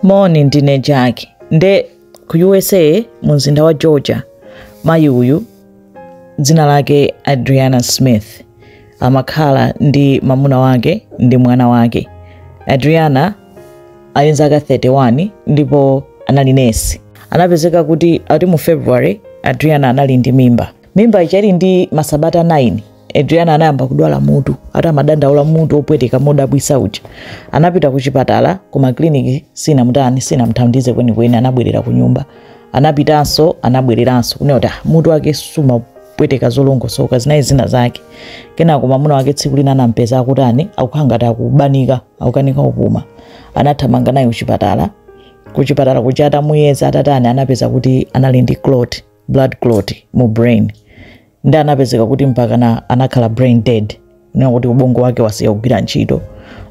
moni ndine jackie nde ku usa mu mzinda wa georgia mayi uyu dzina lake adriana smith amakhala ndi mamuna wake ndi mwana wake adriana ali nzaka 31 ndipo anali nesi anapezeka kuti ati mu february adriana anali ndi mimba mimba ichali ndi masabata 9 adriana anayamba kudwala mutu ati amadandaula mutu opweteka modabwisa uja anapita ku chipatala koma ku kliniki sinamutani sinamthandize kwenikweni anabwerera ku nyumba anapitanso anabwereranso kunena kuti "Ah, mutu wake sumapweteka zolongosoka zinayi zina zake kenako mamuna wake tsiku lina anampeza akutani akukhala ngati akubanika akukanika kupuma anathamanga naye kuchipatala kuchipatala kuja atamuyeza atatani anapeza kuti anali ndi clot blood clot mu brain nde anapezeka kuti mpakana anakhala brain dead kunena kuti ubongo wake wasiya kugwira ntchito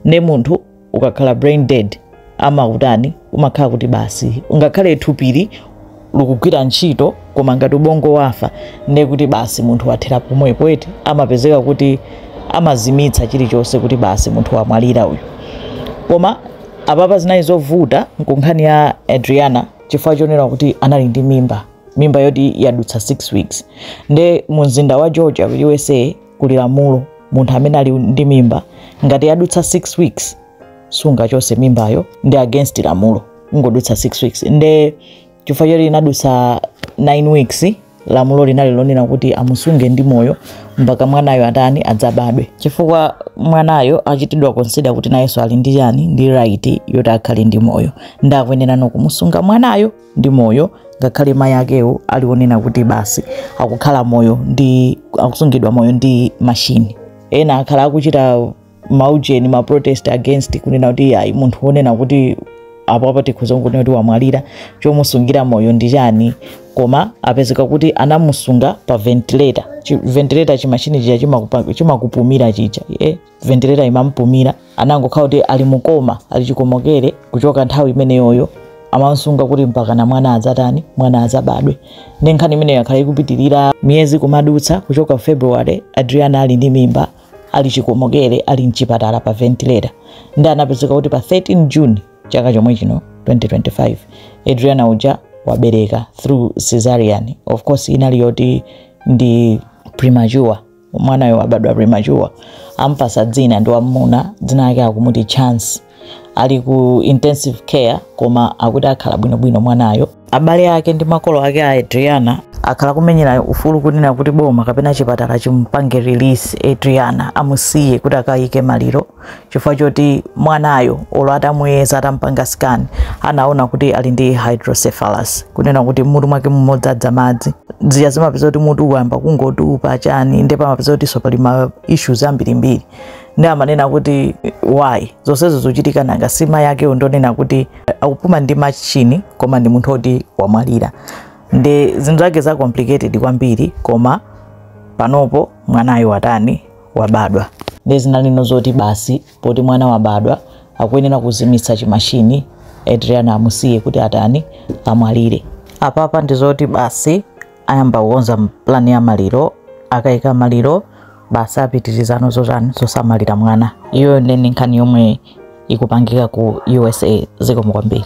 ne munthu ukakhala brain dead amakutani umakhala kuti basi ungakhale thupili likugwira ntchito koma ngati ubongo wafa ne kuti basi munthu wathera pomwepo eti amapezeka kuti amazimitsa chilichonse kuti basi munthu wamwalira uyu koma apapa zinali zovuta ku nkhani ya adriana chifukwa chonena kuti anali ndi mimba mimba yoti yadutsa 6 weeks nde mu mzinda wa georgia ku usa kuli lamulo munthu amene ali ndi mimba ngati yadutsa 6 weeks sungachose mimbayo ndi against lamulo ikangodutsa 6 weeks nde chifukwa choti inadutsa 9 weeks lamulo linali lonena kuti amusunge ndi moyo mpaka mwanayo atani adzabadwe chifukwa mwanayo achitidwa consider kuti nayenso ali ndi chani ndi right yoti akhale ndi moyo ndakuyenera nokumusunga mwanayo ndi moyo ngakhale mayi akewo ali onena kuti basi akukhala moyo ndi akusungidwa moyo ndi machini ena akhala akuchita maujeni ma protest against kunena kuti ayi munthu wonena kuti apo apa tikhoza kunena kuti wamwalira chomusungira moyo ndi chani koma apezeka kuti anamusunga pa ventilator Chi- ventilator chimachini chija chimakupa- chimakupumira chija eh? ventilator imampumira anangokhala kuti ali mu coma ali chikomokere kuchoka nthawi imeneyoyo amamsunga kuti mpakana mwana adzatani mwana adzabadwe nde nkhani imeneyo yakhala ikupitirira miyezi kumadutsa kuchoka february adriana ali ndi mimba ali chikomokere ali mchipatala pa ventilator nde anapezeka kuti pa 13 june chaka chomwe chino 2025 adriana uja wabereka through cesarean of course inali yoti ndi premature mwanayo wabadwa premature ampasa dzina ndi wamuna dzina lake akumuti chance ali ku intensive care koma akuti akhala bwinobwino mwanayo abale ake ndi makolo ake a adriana akhala kumenyera ufulu kunena kuti boma kapena chipatala chimpange release adriana amusiye kuti akayike maliro chifukwa choti mwanayo olo atamuyeza atamupanga scan anaona kuti ali ndi hydrocephalus kunena kuti mutu mwake mumadzadza madzi zija zimapeza kuti mutu wayamba kungotupa chani nde amapeza kutinso pali ma issues ambirimbiri nde amanena kuti why zonsezo zikuchitika nanga si mayi ake ndonena kuti akupuma ndi machini koma ndi munthu oti wamwalira ndi zinthu zake za complicated kwambiri koma panopo mwanayo watani wabadwa. Ndiye zina lino zoti basi poti mwana wabadwa akuyenera kuzimitsa chimashini Adriana amusiye kuti atani amwalire. Apapa ndi zoti basi ayamba kukonza plani ya maliro, akaika maliro basi apitirizeno zotani zosamalira mwana. Iyo ndi nkhani yomwe ikupangika ku USA zikomo kwambiri.